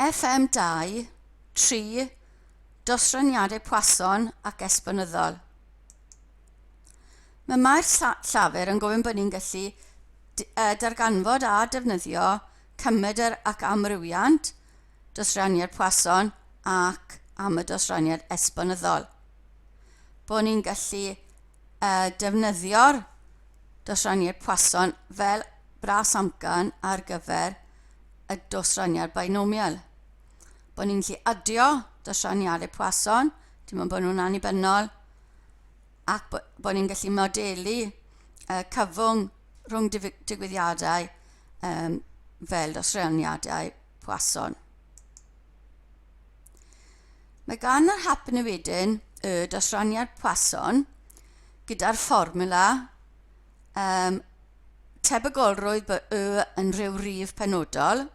FM2, tri, dosraniadau Poisson ac esbonyddol. Mae mae'r llafur yn gofyn bod ni'n gallu darganfod a defnyddio cymedr ac amrywiant dosraniad Poisson ac am y dosraniad esbonyddol. Bod ni'n gallu defnyddio'r dosraniad Poisson fel bras amcan ar gyfer y dosraniad binomial. Bod ni'n gallu adio dosraniadau Poisson, dim ond bod nhw'n annibynnol, ac bod ni'n gallu modelu uh, cyfwng rhwng digwyddiadau um, fel dosraniadau Poisson. Mae gan yr hap newidyn y dosraniad Poisson gyda'r fformula um, tebygolrwydd by y yn rhyw rif penodol,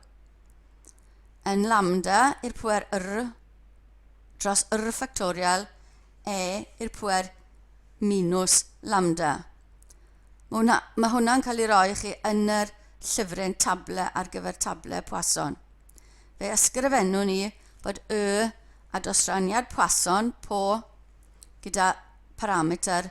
yn lambda i'r pwer yr dros yr ffactorial e i'r pwer minus lambda. Mae hwnna, mae hwnna'n cael ei roi chi yn yr llyfryn table ar gyfer table Poisson. Fe ysgrifennu ni bod y a dosraniad Poisson po gyda parameter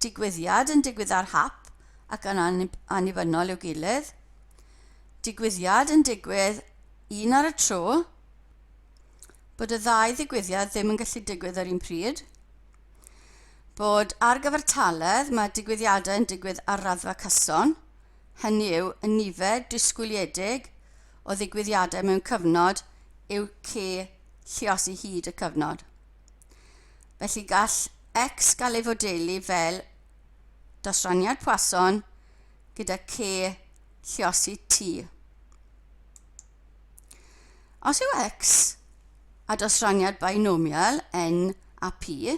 Digwyddiad yn digwydd ar hap ac yn annibynnol i'w gilydd. Digwyddiad yn digwydd un ar y tro. Bod y ddau ddigwyddiad ddim yn gallu digwydd yr un pryd. Bod ar gyfartaledd mae digwyddiadau yn digwydd ar raddfa cyson, hynny yw y nifer disgwyliedig o ddigwyddiadau mewn cyfnod yw cy lluosi hyd y cyfnod. Felly gall X gael ei fodelu fel dosraniad Poisson gyda K lliosi T. Os yw X a dosraniad binomial N a P,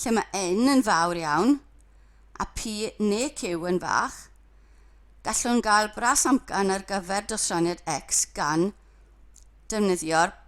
lle mae N yn fawr iawn a P neu Q yn fach, gallwn gael bras amcan ar gyfer dosraniad X gan defnyddio'r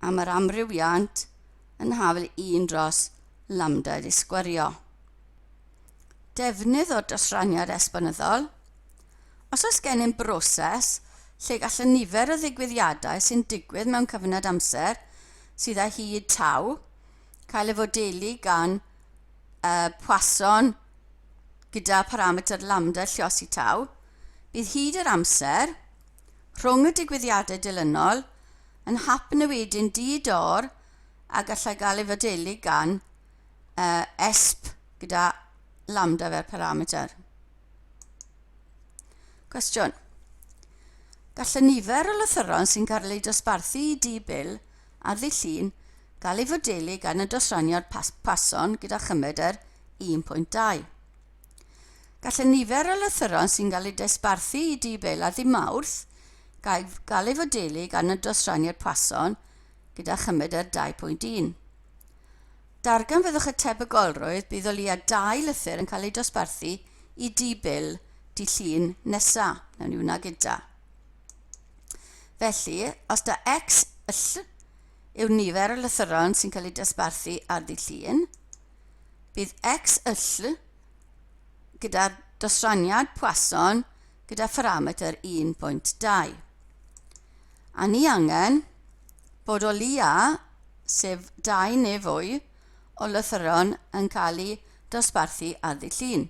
am yr amrywiant yn hafl 1 dros lambda wedi sgwario. Defnydd o'r dosraniad esbonyddol. Os oes gennym broses lle gall y nifer o ddigwyddiadau sy'n digwydd mewn cyfnod amser sydd â hyd taw cael ei fodelu gan y Poisson gyda pharametr lambda lliosi taw, bydd hyd yr amser rhwng y digwyddiadau dilynol yn hap newidyn di-dor a gallai gael ei fodelu gan uh, esp gyda lambda fel parameter. Cwestiwn. Gall y nifer o lythyron sy'n cael eu dosbarthu i dŷ bil ar ddillun gael ei fodelu gan y dosraniad pas pason gyda chymedr 1.2. Gall y nifer o lythyron sy'n cael eu desbarthu i Dŷ Bela ddydd Mawrth gael ei fodelu gan y dosrannu'r person gyda chymed er 2.1. Darganfyddwch y tebygolrwydd bydd o leiaf dau lythyr yn cael eu dosbarthu i Dŷ Bil Dy Llun nesa, wnawn ni wna gyda. Felly, os da X yll yw'r nifer o lythyron sy'n cael eu dosbarthu ar Ddy Llun, Bydd XLLL gyda'r dosraniad Poisson gyda pharametr 1.2. A ni angen bod o leia, sef dau neu fwy, o lythyron yn cael eu dosbarthu ar ddydd Llun.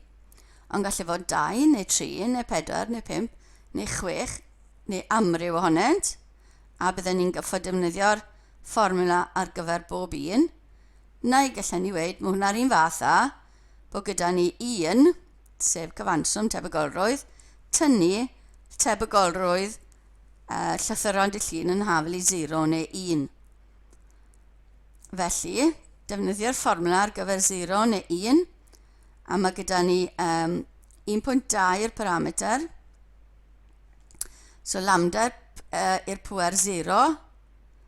Ond gallu fod dau neu tri neu pedwar neu pump neu chwech neu amryw ohonynt, a bydden ni'n gyffo defnyddio'r fformula ar gyfer bob un, neu gallen ni weud, mae hwnna'r un fath â bod gyda ni un, sef cyfanswm tebygolrwydd, tynnu tebygolrwydd uh, llythyron dy llun yn hafel i 0 neu 1. Felly, defnyddio'r fformwla ar gyfer 0 neu 1, a mae gyda ni um, 1.2 i'r parameter, so lambda uh, i'r pwer 0,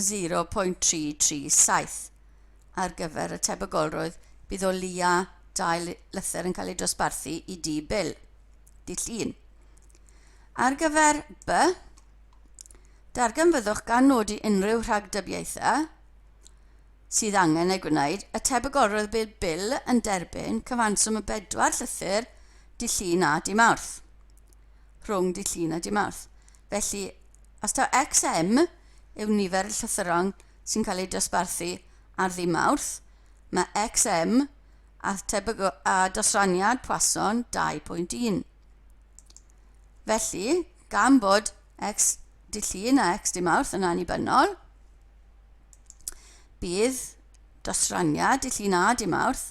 0.337 ar gyfer y tebygolrwydd bydd o leia dau lythyr yn cael eu dosbarthu i dŷ Bill, dull 1. Ar gyfer By, darganfyddwch gan nodi unrhyw rhagdybiaethau sydd angen eu gwneud, y tebygolrwydd bydd Bill yn derbyn cyfanswm y bedwar llythyr dydd Llun a dydd Mawrth. rhwng dydd Llun a dydd Mawrth. Felly, os taw XM yw nifer y llythyron sy'n cael eu dosbarthu ar ddydd Mawrth, mae XM a tebygol a dosraniad Poisson 2.1. Felly, gan bod X dydd Llun a X dydd Mawrth yn annibynnol, bydd dosraniad dydd Llun a dydd Mawrth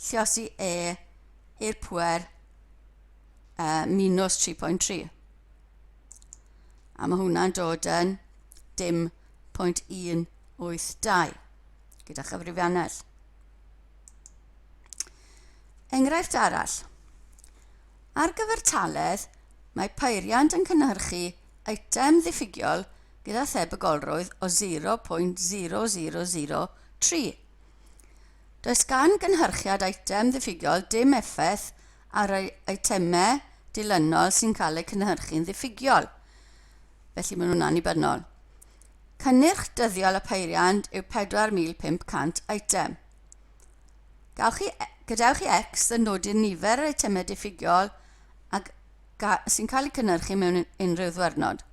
Lluosi E i'r pwer uh, minus 3.3. A mae hwnna'n dod yn dim pwynt 182 gyda chyfrifiannell. Enghraifft arall. Ar gyfer taledd, mae peiriant yn cynhyrchu eitem ddiffygiol gyda thebygolrwydd o 0.0003. Does gan gynhyrchiad eitem ddiffygiol dim effaith ar yr eitemau dilynol sy'n cael eu cynhyrchu'n ddiffygiol, felly maen nhw'n annibynnol. Cynnyrch dyddiol y peiriant yw 4,500 eitem. Gawch chi, e, gadewch i X ddynodi'r nifer yr eitemau diffygiol ac sy'n cael eu cynhyrchu mewn unrhyw ddwyrnod.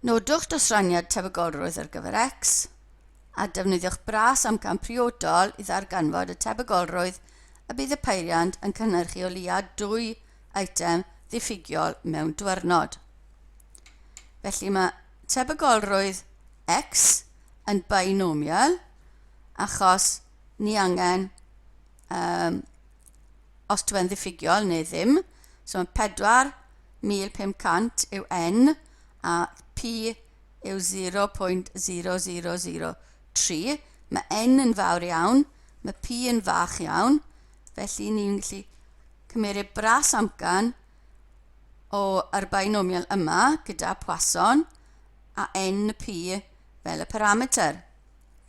Nodwch dosraniad tebygolrwydd ar gyfer X. a defnyddiwch bras amcan priodol i ddarganfod y tebygolrwydd y bydd y peiriant yn cynhyrchu o leiaf dwy eitem ddiffygiol mewn diwrnod. Felly mae tebygolrwydd x yn binomial achos ni angen um, os dwi yn ddiffygiol neu ddim. So mae 4,500 yw n a p yw 0.0003, mae n yn fawr iawn, mae p yn fach iawn, felly ni'n gallu cymeriad bras amcan o yr binomial yma gyda Poisson a n y p fel y parameter.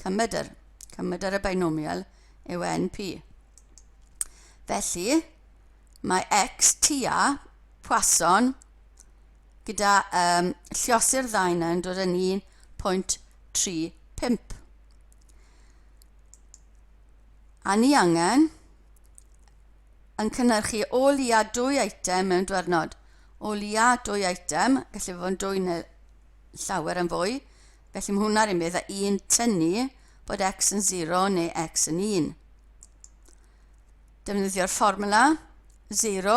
Cymedr, cymedr y binomial yw np. Felly, mae x tua Poisson gyda um, llosur ddau yna yn dod yn 1.35. A ni angen yn cynnyrchu o lia dwy eitem mewn dwernod. O lia dwy eitem, gallu fod yn dwy neu llawer yn fwy, felly mae hwnna'r un beth a un tynnu bod x yn 0 neu x yn 1. Defnyddio'r fformula 0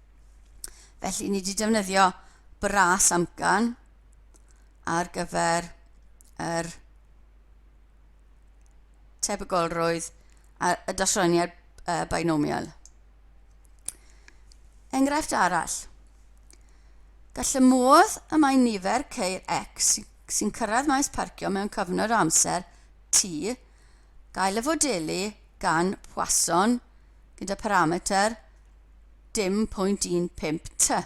Felly, ni wedi defnyddio bras amcan ar gyfer yr tebygolrwydd a y dasroniad uh, binomial. Enghraifft arall. Gall y modd y mae nifer ceir X sy'n cyrraedd maes parcio mewn cyfnod o amser T gael y fodelu gan Poisson gyda parametr dim pwynt 15 ty.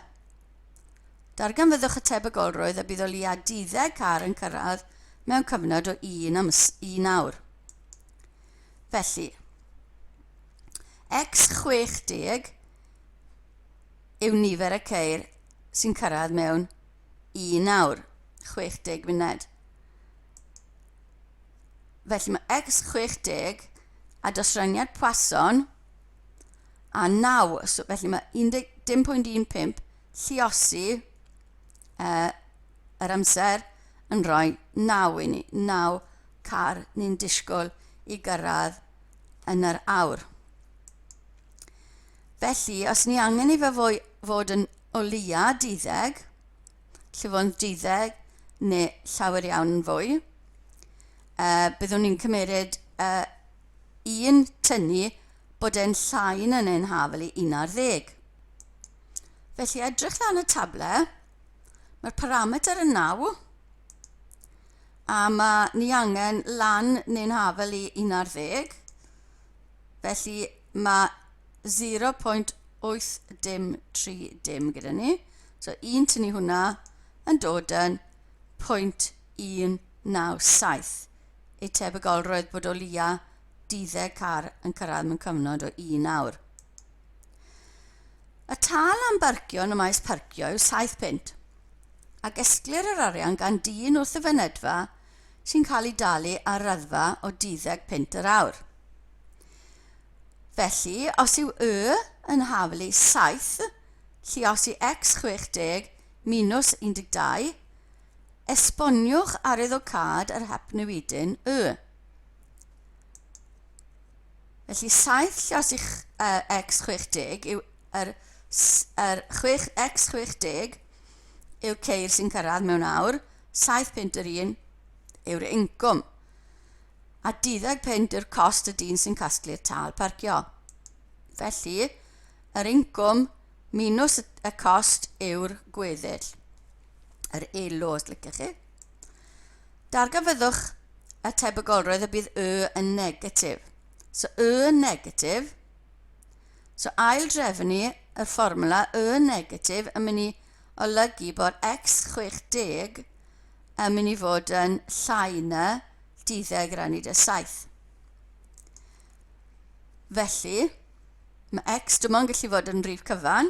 Darganfyddwch y tebygolrwydd y bydd o leia 12 car yn cyrraedd mewn cyfnod o un am un awr. Felly, X60 yw nifer y ceir sy'n cyrraedd mewn un awr, 60 funed. Felly mae X60 a dosraniad Poisson a 9, so felly mae 10.15 lliosi uh, yr amser yn rhoi 9 i ni, 9 car ni'n disgwyl i gyrraedd yn yr awr. Felly, os ni angen i fe fwy, fod yn o leia 12, lle fod yn 12 neu llawer iawn yn fwy, uh, byddwn ni'n cymeryd uh, un tynnu bod e'n llain yn ein hafl i 11. Felly edrych lan y table, mae'r parameter yn 9, a mae ni angen lan neu'n hafl i 11, felly mae 0.803 dim gyda ni. So un tynnu hwnna yn dod yn 0.197. y tebygolrwydd bod o leia' 12 car yn cyrraedd mewn cyfnod o un awr. Y tal am barcio yn y maes parcio yw £7, ac esglir yr arian gan dyn wrth y fynedfa sy'n cael ei dalu ar raddfa o 12 punt yr awr. Felly, os yw Y yn haflu 7, lluosi X 60 minus 12, Esboniwch arwyddocâd yr hapnewidyn Y. Felly 7 llos i uh, x60 yw yr, yr 6, x60 yw ceir sy'n cyrraedd mewn awr, 7 punt yr un yw'r incwm, a 12 punt yw'r cost y dyn sy'n casglu'r tal parcio. Felly, yr incwm minus y cost yw'r gweddill. yr elo os liciwch chi. Darganfyddwch y tebygolrwydd y bydd y yn negatif. So y yn negatif, so ail drefnu y fformwla y yn negatif yn mynd i olygu bod x60 yn mynd i fod yn llai na 12 rannu 17. Felly, mae x dim ond gallu fod yn rif cyfan,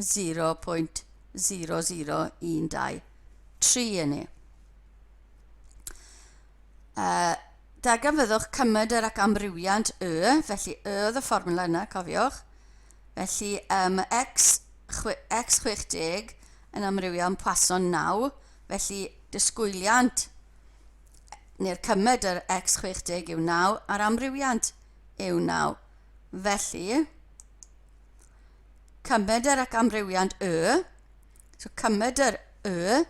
0.0012 yn ei Yy, da gan fyddwch cymydr ac amrywiant Y, felly Y oedd y fformwla yna, cofiwch. Felly, um, X, chwe, X 60 yn amrywio yn Poisson 9, felly disgwyliant neu'r cymydr X 60 yw 9 a'r amrywiant yw 9. Felly, Cymedr ac amrywiant y, so cymedr y,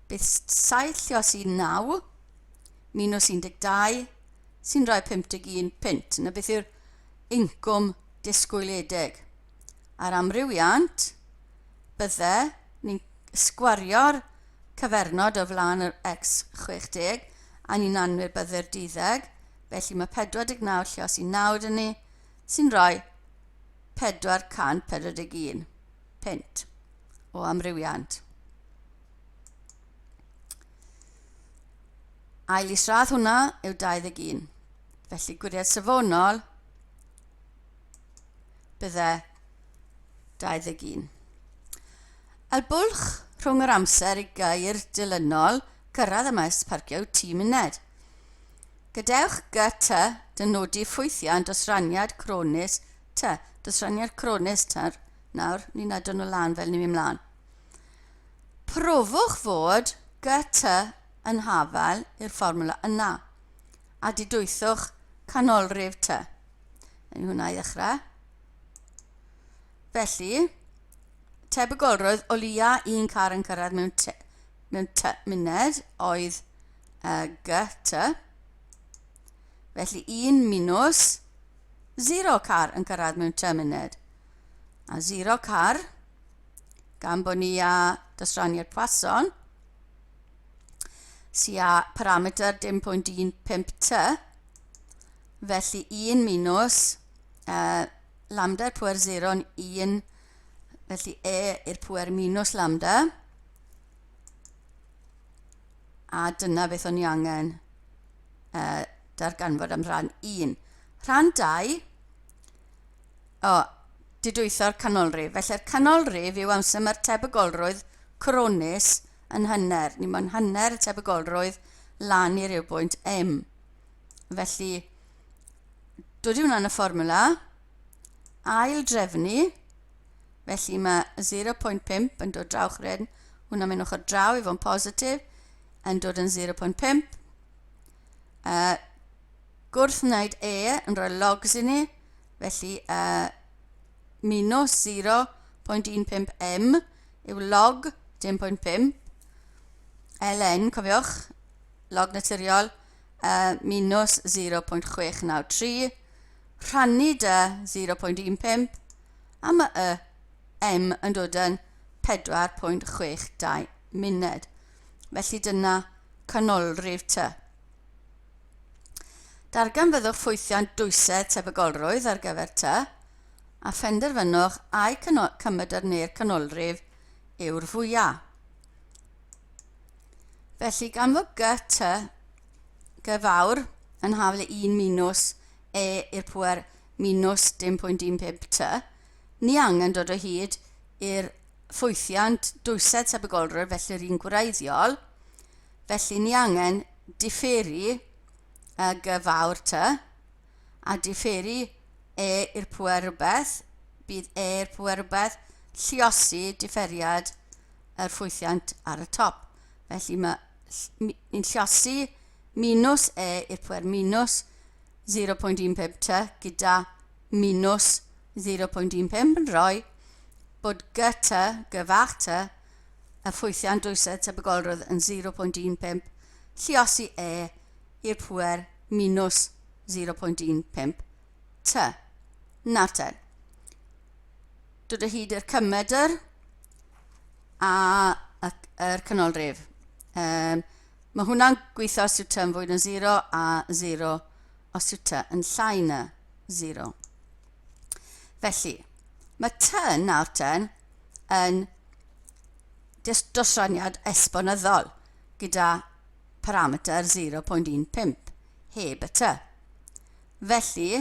bydd 7 lle os i 9, minus 12, sy'n rhoi 51 punt. Yna beth yw'r incwm disgwyliedig? A'r amrywiant, bydde ni'n sgwario'r cyfernod o flaen yr x 60 a ni'n anwybyddu'r duddeg, felly mae 49 lle os i 9 dyn ni, sy'n rhoi 441 punt o amrywiant. Ail isradd hwnna yw 21. Felly gwiriad safonol bydde 21. El bwlch rhwng yr amser i gair dilynol cyrraedd y maes parcio yw 10 munud. Gadewch gy ty dynodi ffwythiant os raniad cronis ty. Dos raniad cronis ty'r. Nawr, ni'n adon o lan fel ni'n mynd mlaen. Profwch fod gy ty yn hafel i'r fformwla yna, a didwythwch canolrif ty. Yn hwnna i ddechrau. Felly, tebygolrwydd o leia un car yn cyrraedd mewn mewn cymuned oedd y GT, felly un minws zero car yn cyrraedd mewn cymuned, a zero car, gan bod ni a dosraniad Poisson, sy a parametr 10.15t, felly un minws uh, lambda'r pwer zero'n un, felly e i'r pwer minws lambda, A dyna beth o'n i angen uh, darganfod am rhan 1. Rhan 2, o, didwytho'r canolrif. Felly'r canolrif yw amser mae'r tebygolrwydd coronis yn hynner. Ni mae'n hynner y tebygolrwydd lan i'r i'r bwynt M. Felly, dod i hwnna'n y fformula, ail drefnu, felly mae 0.5 yn dod draw chryn, hwnna'n mynd ochr draw i fo'n positif, yn dod yn 0.5. Uh, gwrth wneud e yn rhoi logs i ni, felly uh, minus 0.15 m yw log 10.5 ln, cofiwch, log naturiol, uh, minus 0.693, rhannu da 0.15, a ma y M yn dod yn 4.62 munud, felly dyna canolrif ty. Darganfyddwch ffwythiant dwysedd tebygolrwydd ar gyfer ty, a phenderfynwch ai cymydr neu'r canolrif yw'r fwyaf. Felly gan fod gy ty gy fawr yn hafl i 1 minws e i'r pwer minws 10.15 ty, ni angen dod o hyd i'r ffwythiant dwysedd tebygolrwydd felly yr un gwreiddiol, felly ni angen diferu y gy fawr ty, a diferu e i'r pŵer rhywbeth, bydd e i'r pŵer rhywbeth lluosi diferiad yr ffwythiant ar y top, felly mae ni'n llosi minws e i'r pwer minws 0.15 ty gyda minws 0.15 yn rhoi bod gy ty, gy fach ty, y ffwythiant dwysedd tebygolrwydd yn 0.15 llosi e i'r pwer minws 0.15 ty. Nater. dod o hyd i'r cymedr a yr canolrif. Um, mae hwnna'n gweithio os yw yn fwy na 0 a 0 os yw ty yn llai na 0. Felly, mae ty nawr ten yn dosraniad esbonyddol gyda parameter 0.15 heb y ty. Felly,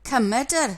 cymedr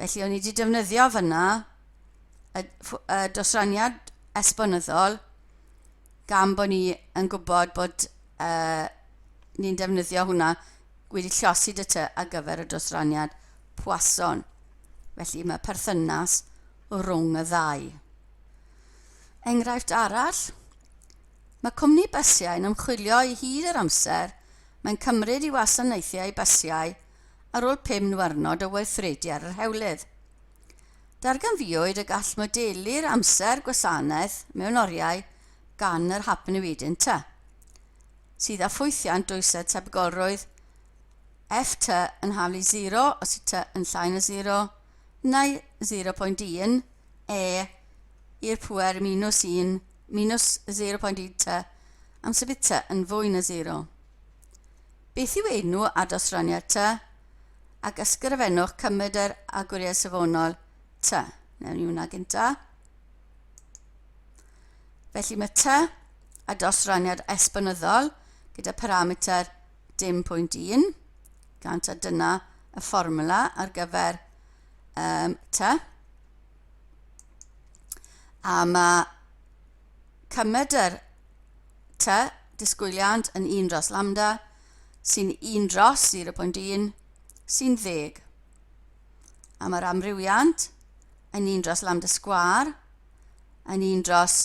Felly o'n i wedi defnyddio fyna y, y dosraniad esbonyddol gan bod ni yn gwybod bod uh, ni'n defnyddio hwnna wedi llosi dy ty ar gyfer y dosraniad pwason. Felly mae perthynas rhwng y ddau. Enghraifft arall, mae cwmni bysiau yn ymchwilio i hyd yr amser mae'n cymryd i wasanaethiau bysiau ar ôl pum niwrnod o weithredu ar yr hewlydd. Darganfuwyd y gall modelu'r amser gwasanaeth mewn oriau gan yr Hapnewid Inter, sydd â ffwythiant dwysedd tebygolrwydd F T yn haflu 0 os y T yn llai na 0 neu 0.1 E i'r pŵer minus 1 minus 0.1 T am sut bydd T yn fwy na 0. Beth yw enw a dosraniad tŷ? Ac ysgrifennwch cymryd yr agwriaeth safonol tŷ. Newn ni hwnna gynta. Felly mae tŷ a dosraniad esbonyddol gyda parameter dim pwynt un, gan ta dyna y fformula ar gyfer um, tŷ. A mae Cymryd yr tŷ disgwyliant yn un dros lambda, sy'n un dros 0.1, sy'n ddeg. A mae'r amrywiant yn un dros lambda sgwâr yn un dros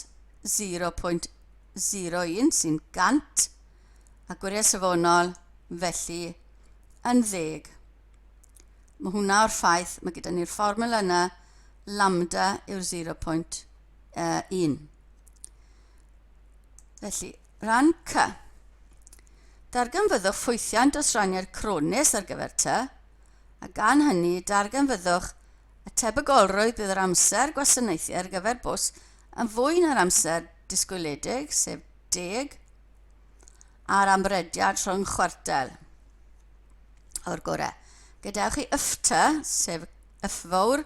0.01 sy'n 100, a gwiriad safonol, felly, yn ddeg. Mae hwnna o'r ffaith, mae gyda ni'r fformula yna, lambda yw'r 0.1. uh, 1. Felly, rhan C. Darganfyddwch ffwythiant dros raniad crones ar gyfer T, a gan hynny darganfyddwch y tebygolrwydd bydd yr amser gwasanaethu ar gyfer bws yn fwy na'r amser disgwyliedig, sef deg, a'r amrediad rhwng chwartel o'r gorau. Gadewch i yfta, sef yffawr,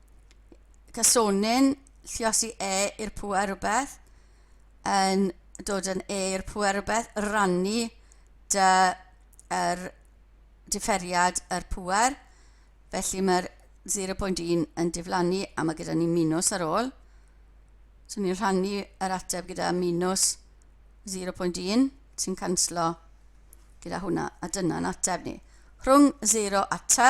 casonyn lliosi e i'r pŵer rhywbeth yn dod yn e i'r pŵer rhywbeth rannu dy yr diferiad yr pŵer felly mae'r 0.1 yn diflannu a mae gyda ni minws ar ôl so ni'n rhannu yr ateb gyda minws 0.1 sy'n canslo gyda hwnna a dyna'n ateb ni rhwng 0 a t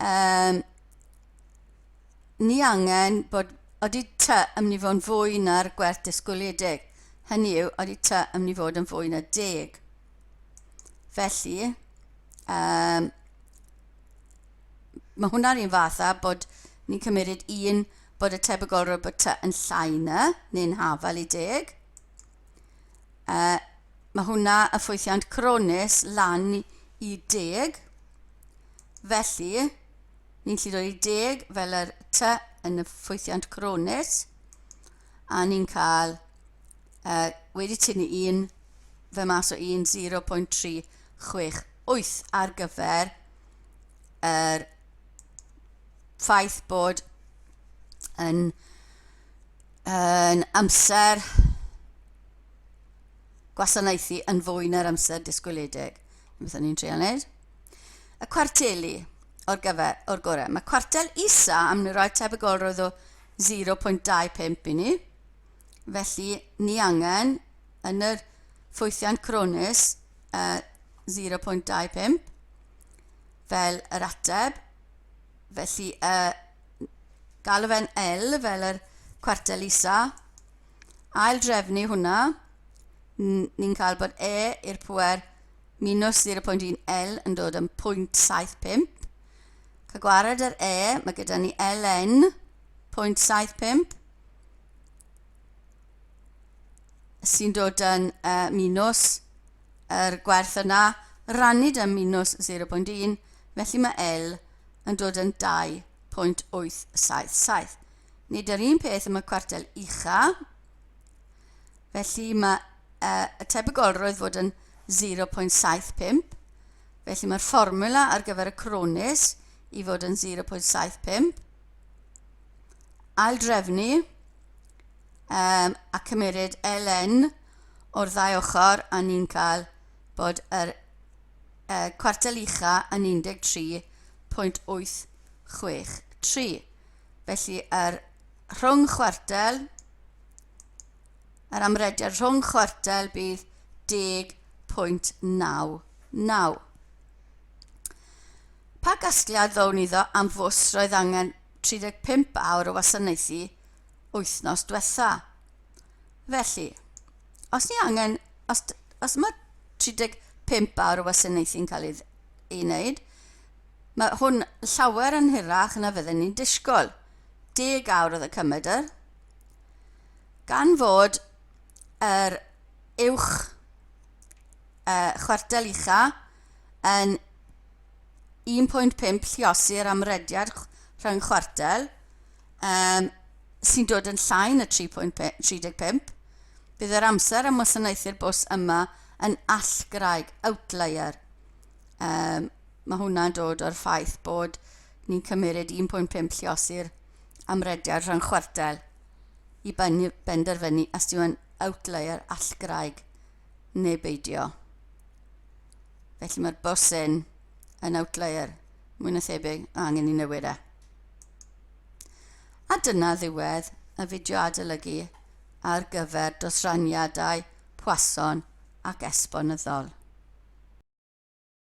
Yym, ni angen bod... Odi tŷ yn mynd i fod yn fwy na'r gwerth disgwyliedig? Hynny yw, odi tŷ yn mynd i fod yn fwy na deg? Felly, um, mae hwnna'r un fath â bod ni'n cymryd un bod y tebygolrwydd bod tŷ yn llai na, neu'n hafal i deg. Uh, mae hwnna y ffwythiant cronis lan i deg. Felly, ni'n lli roi deg fel yr ty yn y ffwythiant cronis, a ni'n cael uh, wedi tynnu un fe mas o un 0.368 ar gyfer yr ffaith bod yn yn amser gwasanaethu yn fwy na'r amser disgwyliedig. Beth o'n i'n trio wneud? Y cwarteli o'r gyfer, o'r gorau. Mae cwartel isa am ni roi tebygolrwydd o 0.25 i ni. Felly, ni angen yn yr ffwythiant cronis uh, 0.25 fel yr ateb. Felly, y uh, galw fe'n L fel yr cwartel isa, ail drefnu hwnna, ni'n cael bod E i'r pwer minus 0.1 L yn dod yn 0.75. Cael gwared yr E, mae gyda ni Ln 0.75 sy'n dod yn uh, minus yr gwerth yna, rannu dy minus 0.1, felly mae L yn dod yn 2.877. Nid yr un peth am y cwartel ucha, felly mae uh, y tebygolrwydd fod yn 0.75, felly mae'r fformula ar gyfer y cronis i fod yn 0.75, aildrefnu um, a cymeryd ln o'r ddau ochr a ni'n cael bod yr y cwartel ucha' yn 13.863. Felly, yr rhwng chwartel, yr amrediad rhwng chwartel bydd 10.99. Pa gasgliad ddown iddo am fws roedd angen 35 awr o wasanaethu wythnos diwetha? Felly, os ni angen, os, os mae 35 awr o wasanaethu'n cael ei, ei wneud, mae hwn llawer yn hirach na fydden ni'n disgwyl. Deg awr oedd y cymedr. Gan fod yr uwch uh, chwartel ucha yn 1.5 lliosi'r amrediad rhyng chwartel, um, sy'n dod yn llai na 3.35, bydd yr amser am wasanaethu'r bws yma yn allgraig, outlier. Um, mae hwnna'n dod o'r ffaith bod ni'n cymryd 1.5 llios i'r amrediad rhan chwartel i benderfynu os yw yn outlier allgraig neu beidio. Felly mae'r bws yn outlier mwy na thebyg, angen i newid e. A dyna ddiwedd y fideo adolygu ar gyfer dosraniadau Poisson ac Esbonyddol.